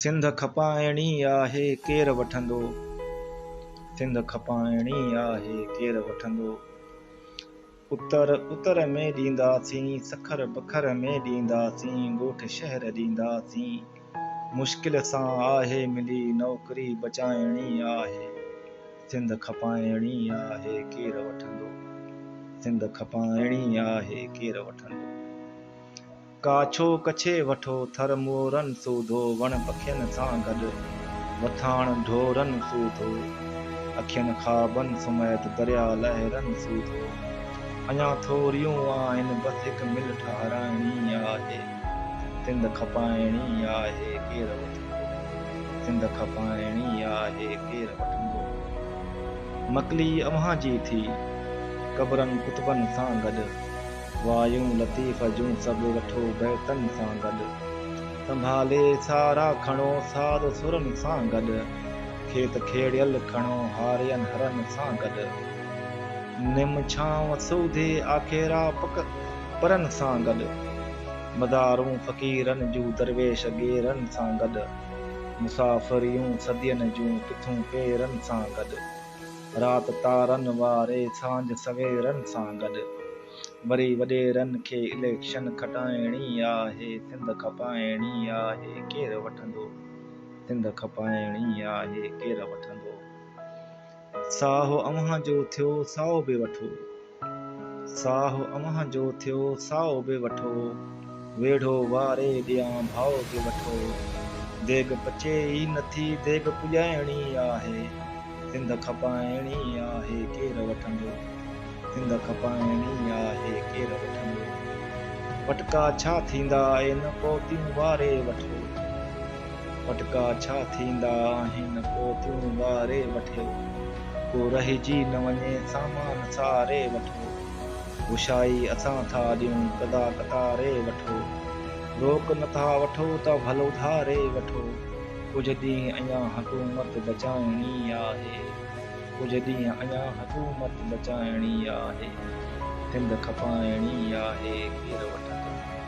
سنڌ کپائڻي آهي ڪير وٺندو. سنڌ کپائڻي آهي ڪير وٺندو. اتر اتر ۾ ڏينداسين سکر بکر ۾ ڏينداسين ڳوٺ شهر ڏينداسين مشڪل سان آهي ملي نوڪري بچائڻي آهي. سنڌ کپائڻي آهي ڪير وٺندو. سنڌ کپائڻي آهي ڪير وٺندو. ڪاڇو ڪڇي وٺو ٿر مورن سوڌو وڻ پکين سان گڏ وٿاڻ ڍورن سوڌو اکين خوابن سميت درياء لهرن سوڌو اڃا ٿوريون آهن بس هڪ مل ٺهرائڻي آهي سنڌ کپائڻي آهي ڪير وٺندو. سنڌ کپائڻي آهي ڪير وٺندو مڪلي اوهان جي ٿي قبرن ڪتبن سان گڏ وايون لطيف جون سڀ وٺو بيتن سان گڏ سنڀالي سارا کڻو ساز سرن سان گڏ کيت کيڙيل کڻو هارين هرن سان گڏ نم ڇانو سوڌي آکيرا پڪ پرن سان گڏ. مدارون فقيرن جون درويش ڳيرن سان گڏ، مسافريون صدين جون ڪٿون پيرن سان گڏ، رات تارن واري سانجھ سويرن سان گڏ، وري وڏيرن کي اليڪشن کٽائڻي آهي، سنڌ کپائڻي آهي، ڪير وٺندو؟ سنڌ کپائڻي آهي، ڪير وٺندو؟ ساهه اوهان جو ٿيو سائو به وٺو. ساهه اوهان جو ٿيو سائو به وٺو. ويڙهو واري ڏيان ڀائو به وٺو. ديڳ پچي ئي نٿي ديڳ پڄائڻي آهي. سنڌ کپائڻي آهي ڪير وٺندو. سنڌ کپائڻي آهي ڪير وٺندو. وٽڪا ڇا ٿيندا اين پوتيون واري وٺو. پٽڪا ڇا ٿيندا آهن پو تون واري وٺيو ڪو رهجي نه وڃي سامان ساري وٺو هوشائي اسان ٿا ڏيون قضا قطاري وٺو روڪ نه ٿا وٺو ته ڀل اڌاري وٺو ڪجهه ڏينهن اڃان حڪومت بچائڻي آهي ڪجهه ڏينهن اڃان حڪومت بچائڻي آهي سنڌ کپائڻي آهي ڪير وٺندو.